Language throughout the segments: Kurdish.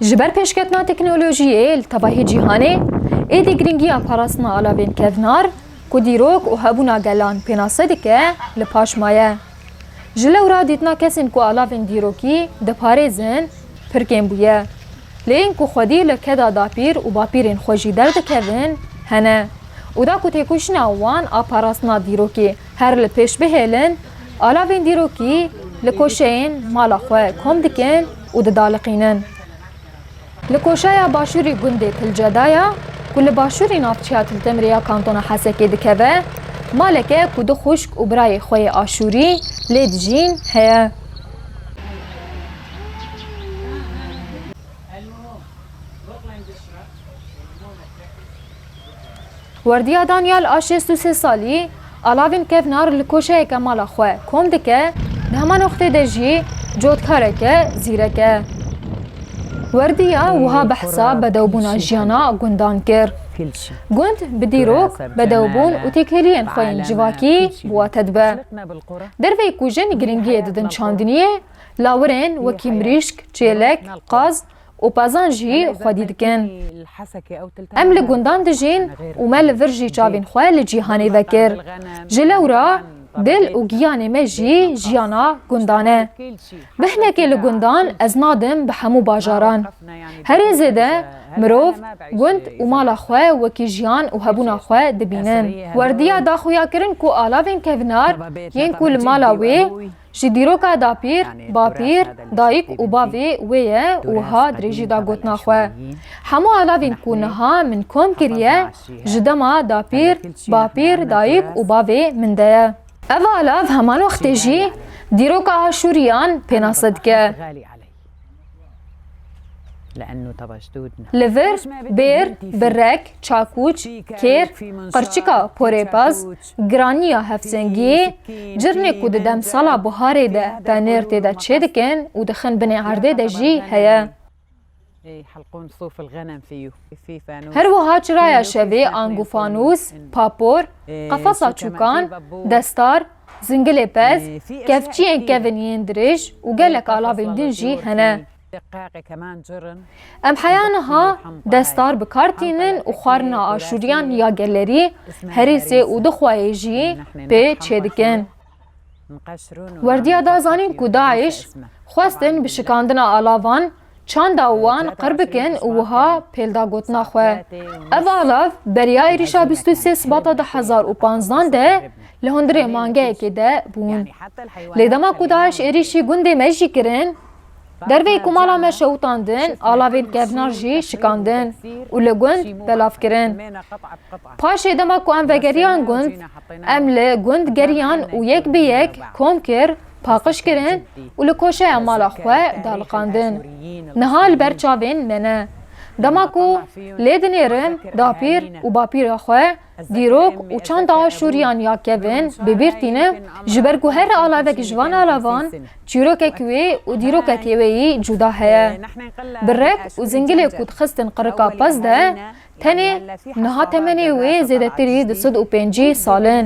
Ji ber pêşketina teknolojiyê li tevahî cîhanê, êdî girîngiya parastina alavên kevnar ku dîrok û hebûna gelan pênase dike li paş maye. Ji lewra dîtina kesên ku alavên dîrokî diparêzin pir kêm bûye. Lê ên ku xwedî li keda dapîr û bapîrên xwe jî derdikevin hene û da ku têkoşîna wan a parastina dîrokê Her li pêş bihêlin, alavên dîrokî li koşeyên mala xwe kom dikin û didaliqînin. Li koşeya başûrî gundê Tilceda ya ku li başûrî navçeya Tiltemrê ya kantona Hesekê dikeve, maleke ku du xwişk û birayê xwe yê Aşûrî lê dijîn heye. Werdiya Danyal a şêst û sê salî, Alavin Kevnar li koşeyeke mala xwe kom dike, di hema noqtê de jî cotkareke zîrek e. Werdiya wiha behsa bedewbûna jiyana gundan kir, Gund bi dîrok, bedewbûn û têkiliyên xwe yên civakî bi we tedibe. Derveyî ku jin giringiyê didin çandiniyê, lawirên wekî mirîşk, çêlek, qaz, û pezan jî xwedî dikin. Em li gundan dijîn û me li vir jî çavên xwe li cîhanê vekir. Ji lewra dil û giyanê me jî jiyana gundan e. Bi hinekê li gundan ez nadim bi hemû bajaran. Herê zêde mirov gund û mala xwe wekî jiyan û hebûna xwe dibînin. Werdiya daxuyakirin ku alavên kevinar yên ku li mala wê Ji dîroka dapîr, bapîr, dayik û bavê wê ye wiha dirêjî da gotina xwe, Hemû alavên ku niha min kom kiriye ji dema dapîr, bapîr, dayik û bavê min de ye. Ev alav heman wextê jî dîroka Aşûriyan pênase dike. Li vir, bêr, birek, çakûç, kêr, qirçika porêbaz, giraniya hevsengiyê, cirnê ku di demsala buharê de penêr tê de çêdikin û dixin binê erdê de jî heye. Her wiha çiraya şevê ang û fanûs, papor, qefesa çûkan, destar, Zingilê pez, kevçiyên kevin yên dirêj û gelek alavên din jî hene. Em heya niha destar bi kar tînin û xwarina aşûriyan ya gelerî, herêsê û dixwayê jî pê çêdikin. Werdiya da zanîn ku DAIŞ xwestin bi şikandina alavan Çanda wan qir bikin û wiha pêl da gotina xwe, Ev alav beriya êrîşa bîst û sê Sibata du hezar û panzdan de li hundirê mangeyekê de bûn. Lê dema ku DAIŞ êrîşî gundê me jî kirin, derveyî ku mala me şewitandin alavên kevnar jî şikandin û li gund belav kirin. Paşê dema ku em vegeriyan gund, em li gund geriyan û yek bi yek kom kir paqij kirin û li koşeya mala xwe daliqandin. Niha li ber çavên me ne. Dema ku lê dinêrim dapîr û bapîra xwe, dîrok û çanda Şûriyan ya kevin bi bîr tînim, ji ber ku her alavek ji van alavan çîrokek wê û dîrokekê wê yî cuda heye. Bi rek û zingilê ku dixistin qirika pez de, tenê niha temenê wê zêdetirî du sed û pêncî sal in.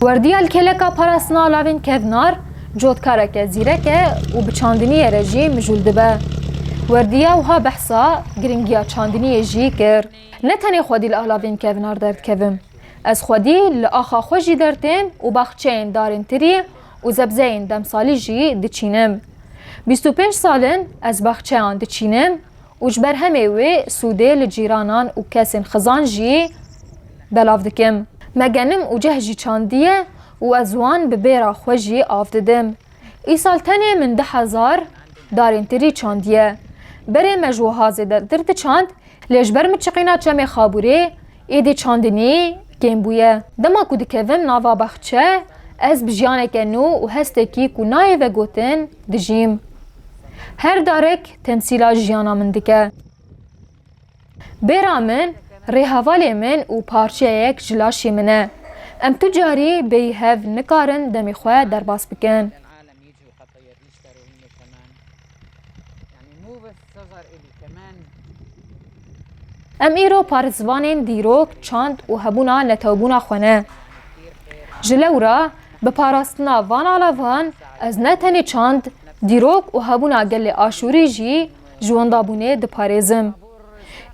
Werdiya li kêleka parastina lavên kevnar, cotkareke zîrek e û bi çandiniyê re jî mijûl dibe. Werdiya wiha behsa girîngiya çandiniyê jî kir, Ne tenê xwedî li alavên kevnar derdikevim, ez xwedî li axa xwe jî dertêm û baxçeyên darên tirî û zebzeyên demsalî jî diçînim. Bîst û pênc sal in ez baxçeyan diçînim Û ji ber hemê wê sûdê li cîranan û kesên xizan jî belav dikim. Me genim û ceh jî çandiye û ez wan bi bêra xwe jî av didim. Îsal tenê min du hezar darên tirî çandiye. Berê me ji wiha zêde tir diçand, lê ji ber min çiqîna çemê Xabûrê êdî çandinî kêm bûye. Dema ku dikevim nava baxçe, ez bi jiyaneke nû û hestekî ku nayê vegotin dijîm. Her darek temsîla jiyana min dike. Bêra min, rêhevalê min û parçeyek ji laşê min e. Em tu carî bêyî hev nikarin demê xwe derbas bikin. Em îro parzivanên dîrok, çand û hebûna netewbûna xwe ne. Ji lewra bi parastina van alavan ez ne tenê çand, dîrok û hebûna gelê Aşûrî jî ji wendabûnê diparêzim.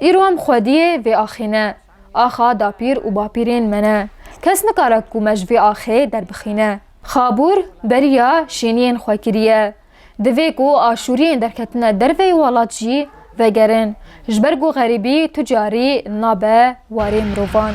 Îro em xwediyê vê axê ne, axa dapîr û bapîrên me ne, kes nikare ku me ji vê axê derbixîne. Xabûr beriya şêniyên xwe kiriye. Divê ku Aşûriyên derketine derve yê welat jî vegerin. Ji ber ku xerîbî tu carî nabe warê mirovan.